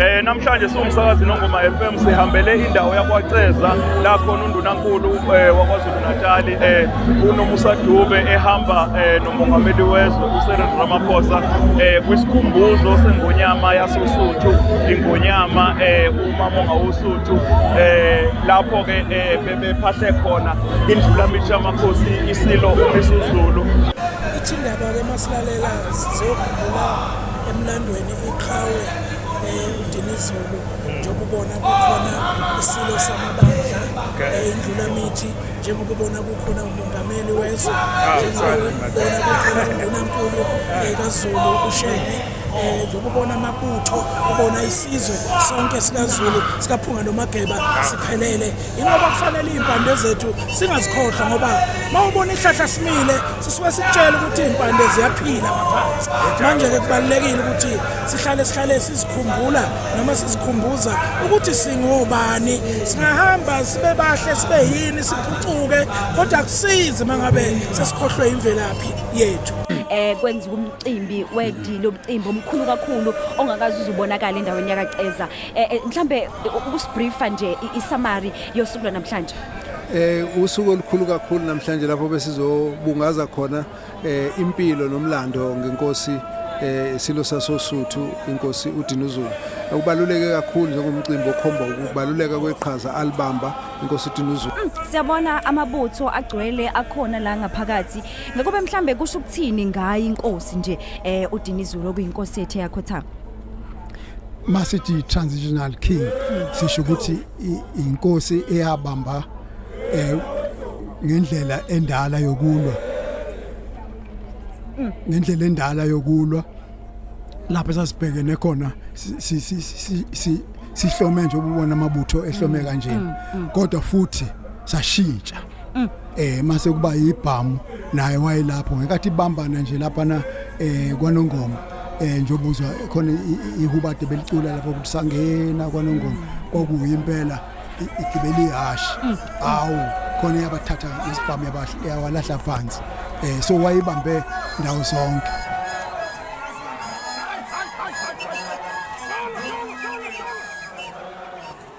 Eh namhlanje siwumsakazi nongoma FM sihambele indawo yakwaCeza la khona undunankulu eh, waKwaZulu Natal eh uNomusa Dube ehamba eh, nomongameli wezwe uSereni Ramaphosa eh kwisikhumbuzo sengonyama yasoSuthu ingonyama eh uMamonga woSuthu eh lapho ke eh, bephahle khona indlulamithi yamakhosi isilo isizulu ithi indaba ke masilalela sizokhumbula emlandweni iqhawe eh, udinizulu njengoba ubona kukhona isilo samabandla eh, indlulamithi njengoba ubona kukhona umongameli wezwe ah, njengoba ubona kukhona undunankulu eh, kazulu ushenge um njengoba ubona amabutho ubona isizwe sonke sikazulu sikaphunga nomageba siphelele ingoba kufanele iy'mpande zethu singazikhohlwa ngoba uma ubona ihlahla simile sisuke sikutshela ukuthi iy'mpande ziyaphila ngaphansi manje-ke kubalulekile ukuthi sihlale sihlale sizikhumbula noma sizikhumbuza ukuthi singobani singahamba sibe bahle sibe yini siphucuke kodwa kusizi uma ngabe sesikhohlwe imvelaphi yethu um kwenziwa cimbi wedi lomcimbi omkhulu kakhulu ongakazi uzubonakala endaweni yakaceza eh, eh, mhlambe ukusibreefa nje isamari yosuku lwanamhlanje eh usuku olukhulu kakhulu namhlanje lapho besizobungaza khona eh impilo nomlando ngenkosi eh silo sasosuthu inkosi uDinuzulu ukubaluleke kakhulu njengomcimbi okhomba ukubaluleka kweqhaza alibamba inkosi uDinuzulu mm, siyabona amabutho agcwele akhona la ngaphakathi Ngakube mhlambe kusho ukuthini ngayi inkosi nje eh uDinizulu okuyinkosi yethu yakhothama. Masithi transitional king sisho ukuthi inkosi eyabamba eh ngendlela endala yokulwa. Mm. Ngendlela endala yokulwa lapho sasibhekene khona si si si sihlome nje ububona amabutho ehlome mm, kanjena mm, kodwa futhi sashintsha Mm. eh mase kuba yibhamu naye wayelapho ngekathi ibambana nje lapha na eh kwanongoma eh njobuzwa khona ihubade belicula lapho kusangena kwanongoma kwakuyi impela igibeli hash mm. awu khona yabathatha isibhamu yabahle yawalahla phansi eh so wayibambe ndawo zonke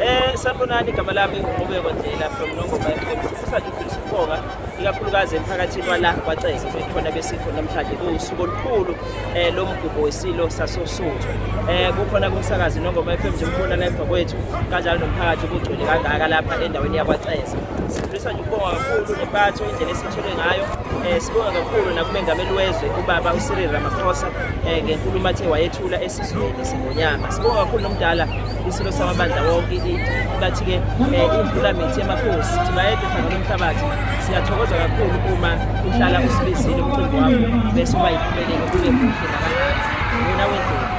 Eh sanibonani igama lami uqhubeko ndlela from Nongoma FM sifisa nje ukudlulisa ukubonga ikakhulukazi emphakathini wala kwaCeza bekhona besifo namhlanje kuwusuku olukhulu eh lo mgubho wesilo sasoSuthu eh kukhona kumsakazi Nongoma FM nje umbona la emva kwethu kanjalo nomphakathi kugcwele kangaka lapha endaweni yakwaCeza sifisa nje ukubonga kakhulu nempatho indlela esithole ngayo eh sibonga kakhulu nakumengameli wezwe ubaba uCyril Ramaphosa eh ngenkulumo athe wayethula esizweni Nyama sibonga kakhulu nomdala isilo samabandla wonke bathi ke eh, imvula mithi yamakhosi ukuthi bayede phakela umhlabathi siyathokoza kakhulu uma uhlala usibizile umcimbi wakho bese uba yiphumelele kube kuhle nabangani wena wendlela